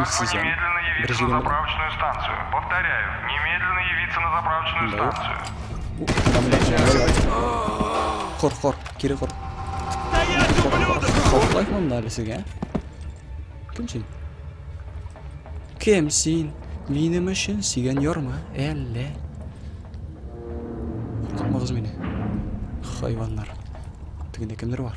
Үз сизәм, бер җирем бар. Монда юк. Кор, кор, кире кор. Каплай монда әле сезгә. Кем син? Кем син? Минем өчен сигән ярма, әллә? Куркытмагыз мине. Хайваннар. Тегендә кемдер бар.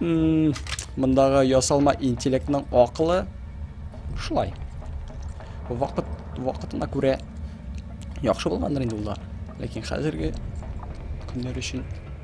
Мындағы ясалма интеллектның ақылы шулай. Вакыт вакытына күрә яхшы булгандыр инде ул да. Ләкин хәзерге көннәр өчен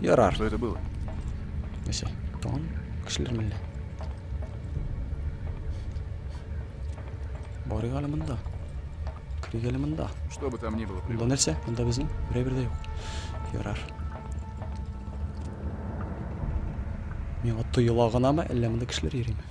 Ярар. Что это было? Нәсе, тон кешеләр миллә. Барыйк әле монда. Керик әле монда. Что бы там ни было. Монда нәрсә? Монда безнең берәбер дә юк. Ярар. Миңа тоела гынамы, әллә монда кешеләр йөриме?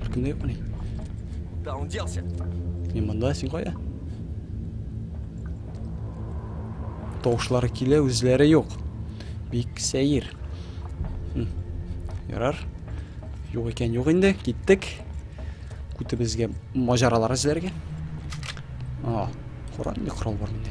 Farkında yok mu ne? Да, он делся. Не мында син кая? Тавышлары килә, үзләре юк. Бик сәер. Ярар. Юк икән, юк инде. Киттек. Күтебезгә маҗаралар эзләргә. А, корал, не корал бар инде.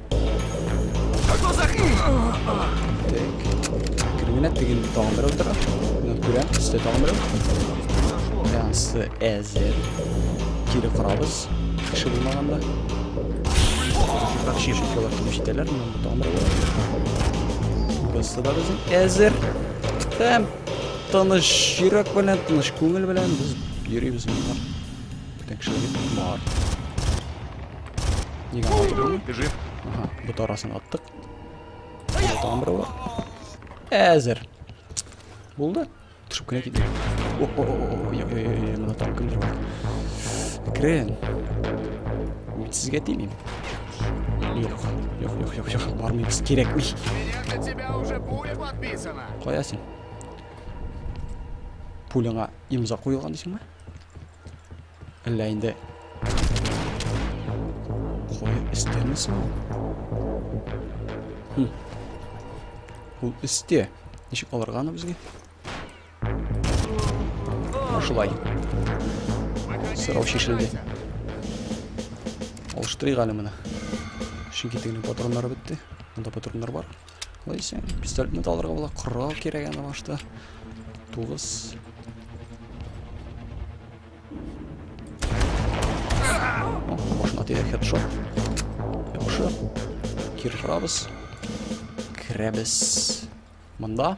Криминет деген тагын берәү тора. Мына күрәм, төстә тагын берәү. Янсы әзер. Кире корабыз. Кеше булмаганда. Шик шикалар килеп җитәләр. Мына тагын берәү. Кысы да безнең әзер. Һәм тыныш йөрәк белән, тыныш күңел белән без йөрибез монда. Бүтән кешеләр бар. Еган алып берәүне. Ты жив? Ага, бот арасын аттык. Тагын берәү бар. Әзер. Булды. Төшеп кенә китте. Ой-ой-ой, мына тагын кемдер бар. Крен. Мин сезгә тимим. Юк, юк, юк, юк, юк, бармыйбыз, кирәкми. Меня на тебя уже пуля подписана. Кая син? Пуляңа имза куелган дисеңме? Әллә инде... Кое өстәме соң? Хм. Ул өстә. Ничек алырга аны безгә? Шулай. Сорау шешелде. Алыштырыйк әле моны. Чөнки тегенең патроннары бетте. Монда патроннар бар. Лайсен, пистолетны да алырга була. Корал кирәк аны башта. Тугыз. Башына тирәк хедшот. Яхшы. Киррабыз. Керәбез. Монда.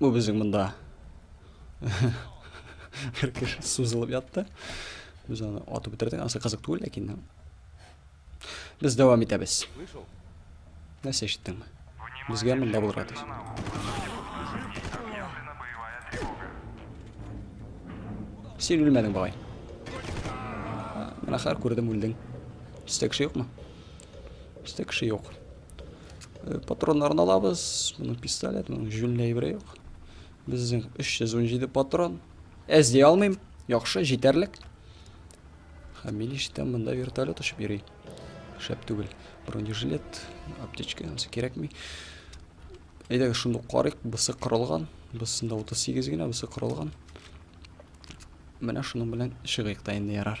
Бу безнең монда Херкеш сузылып ятты. Без аны атып бетердек. Ансы кызык түгел, ләкин без дәвам итәбез. Нәрсә ишеттеңме? Безгә монда булырга тиеш. Син үлмәдең, бабай. Менә хәр күрдем, үлдең. Бездә кеше юкмы? Бездә кеше юк. Патроннарын алабыз. Моның пистолет, моның җүнле әйбере юк. Безнең 317 патрон. Әз дия алмыйм. Яхшы, җитәрлек. Һәм мин ишетәм, монда вертолет очып йөри. Шәп түгел. Бронежилет, аптечка, ансы кирәкми. Әйдәгез шуны карыйк. Бусы кырылган. Бусында 38 генә, бусы кырылган. Менә шуның белән чыгыйк та инде ярар.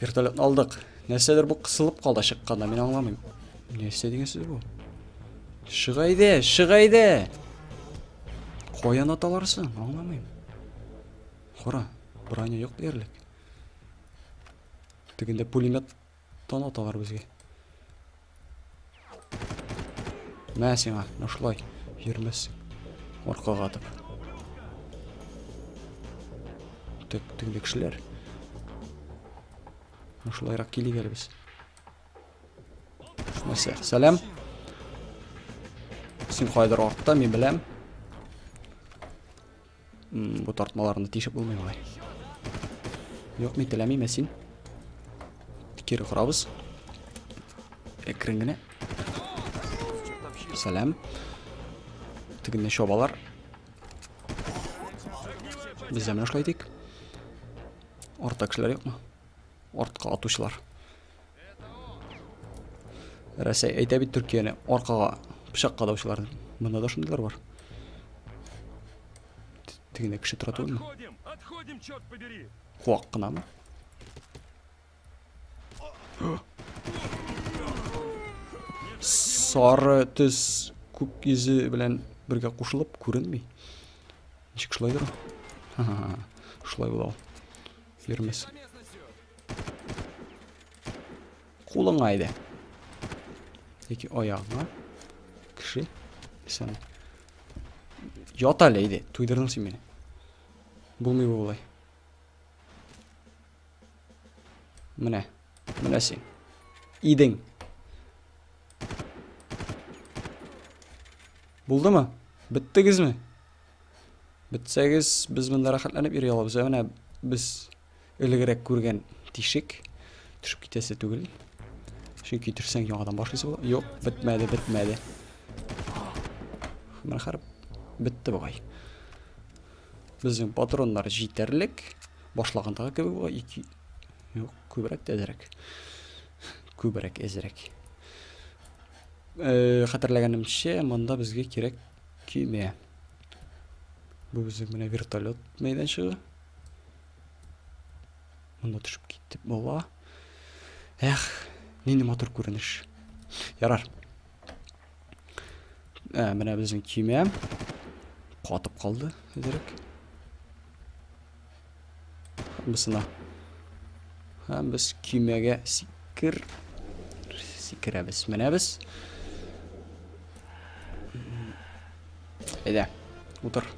Вертолетны алдык. Нәрсәдер бу кысылып калды чыкканда, мин аңламыйм. Нәрсә дигән сүз бу? Чыга иде, чыга иде. Каян аталарсың? Аңламыйм. Кара, броня юк диярлек. Тегендә пулемет Тон аталар безгә. Мә сиңа, нашлай, йөрмәссең. Аркага атып. Тек, теге кешеләр. Нашлайрак килик әле без. Нәрсә? Сәлам. Син кайдыр артта, мин беләм. М, бу тартмаларны тишеп булмый болай. Юк, мин теләмим, ә син? Кире корабыз. Әкрен генә. Сәлам. Тегенне чабалар. Без дә менә шулай дик. Артта кешеләр юкмы? артка атучылар. Рәсәй әйтә бит Төркияне аркага пычак кадаучылар. Монда да шундыйлар бар. Тегенә кеше тора түгелме? Отходим, отходим, черт побери. Куак кынамы? Сары төс күк йөзе белән бергә кушылып күренми. Ничек шулай дөрә? Ха-ха. Шулай була. Йөрмәс. Кулыңа иде. Яки аягыңа. Кеше. Исән. Ят әле иде. Туйдырдың син мине. Булмый бу болай. Менә. Менә син. Идең. Булдымы? Биттегезме? Бетсәгез, без монда рәхәтләнеп йөри алабыз. Ә менә без элегрәк күргән тишек төшеп китәсе түгел. Чөнки төшсәң яңадан башлыйсы була. Юк, бетмәде, бетмәде. Менә хәрп бетте бугай. Безнең патроннар җитәрлек. Башлагандагы кебек була. Ике... Юк, күбрәк тә әзрәк. Күбрәк әзрәк. Э, хәтерләгәнемчә, монда безгә кирәк көймә. Бу безнең менә вертолет мәйданчыгы. Монда төшеп киттек бала. Эх, нинди матур күренеш. Ярар. Ә, менә безнең кимә. Катып калды, дирек. Бусына. Һәм без көймәгә сикер сикерәбез. Менә без. Әйдә, утыр.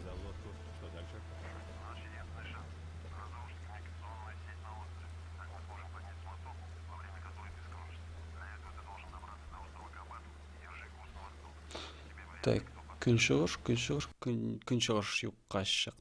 Так, көнчыгыш, көнчыгыш, көнчыгыш юкка чык.